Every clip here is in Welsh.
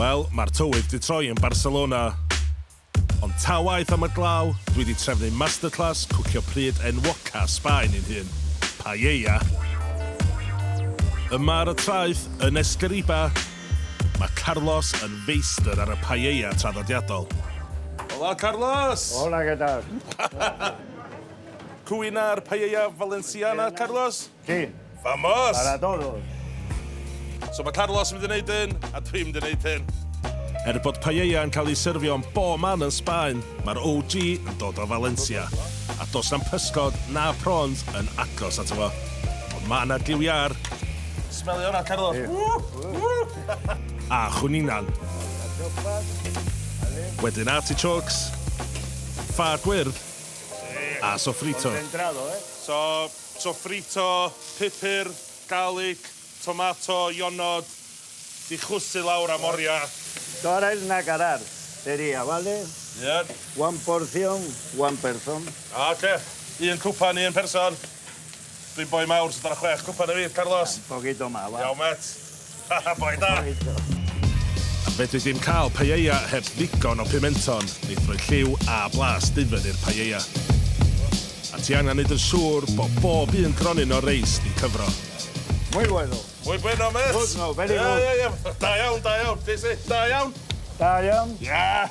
Wel, mae'r tywydd 'di troi yn Barcelona. Ond ta waeth am y glaw, dwi 'di trefnu masterclass cwcio pryd enwoca Sbaen i'n hun, paella. Yma ar y traeth, yn Esquerriba, mae Carlos yn feistr ar y paella traddodiadol. Hola, Carlos! Hola, què tal? Cwyn ar paella Valenciana, Carlos? Chi. Vamos! Para todos! So mae Carlos yn mynd i wneud hyn, a dwi'n mynd i wneud hyn. Er bod paella yn cael ei syrfio yn bo man yn Sbaen, mae'r OG yn dod o Valencia, a dos na'm pysgod na prawns yn agos ato fo. Ond mae yna giw iâr. Smelio hwnna, Carlos. a chwningan. Wedyn artichokes, ffa gwyrdd, a sofrito. Eh? So, Sofrito, pupur, garlic, tomato, ionod, di chwysu lawr am oria. Torra el nacarar seria vale? Ie. One portion, one person. Ah oce, un cwpan i un person. Dwi'n boi mawr so dyna chwech cwpan i fi, Carlos. Un poquito más va. Iawn met. Haha, boi da! Fedri di'm cael paella heb ddigon o pimenton, eithroi lliw a blas dufen i'r paella. A ti angen neud yn siŵr bo bob un gronyn o reis di cyfro. Muy bueno. Muy bueno mêt! Good no, very good. Ie, ie, ie. Da iawn, da iawn. Be' sy? Da iawn. Da iawn. Ie!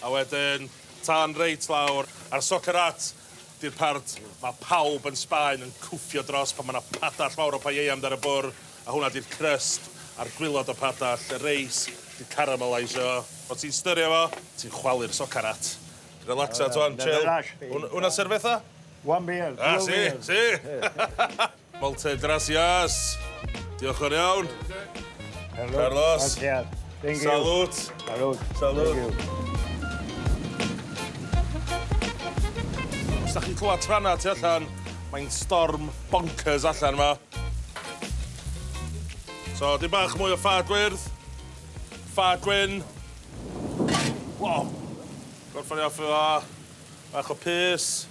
A wedyn, tân reit lawr, a'r soccer at di'r part mae pawb yn Sbaen yn cwffio dros pan mae yna padell fawr o paella amdar y bwr', a hwnna di'r crust a'r gwilod o'r padell, y reis di'r caramelaisio. Os ti'n styrio fo, ti'n chwalu'r soccer at. Relaxa, Tuan, chill. Hwnna servetha? One beer, two beers. Ah, si, si! Moltes gracias! Diolch yn iawn. Hello. Carlos. Thank you. Salut. Salut. Salut. Thank you. Os da chi'n clywed tranna tu allan, mae'n storm bonkers allan yma. So, dim bach mwy o ffa gwyrdd. Ffa gwyn. Wow. Gorffan i off efo bach o pys.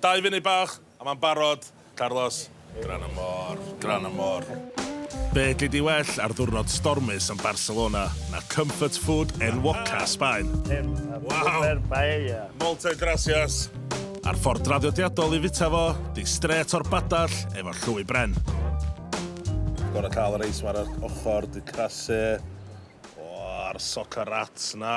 Dau funud bach, a mae'n barod. Carlos, gran y môr, gran y môr. Be gei di well ar ddiwrnod stormus yn Barcelona na comfort food enwoca Sbaen? Waw! Moltes gracias! A'r ffordd draddodiadol i fita fo 'di strêt o'r badell efo llwy bren. Gorau cael y reis 'ma ar yr ochr, 'di crasu. O, a'r soca rats 'na.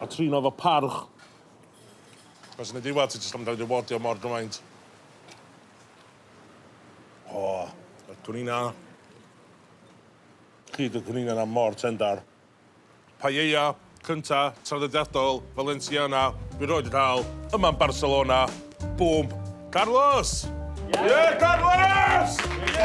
A trin o efo parch. Cos yn y diwedd ti jyst am gael ei rewardio mor gymaint. O, y cwninna. Hyd y cwninna yna mor tendar. Paella cynta traddodiadol Valenciana dwi rioed wedi cael, yma yn Barcelona. Bŵm. Carlos! Ie, Carlos! Ie!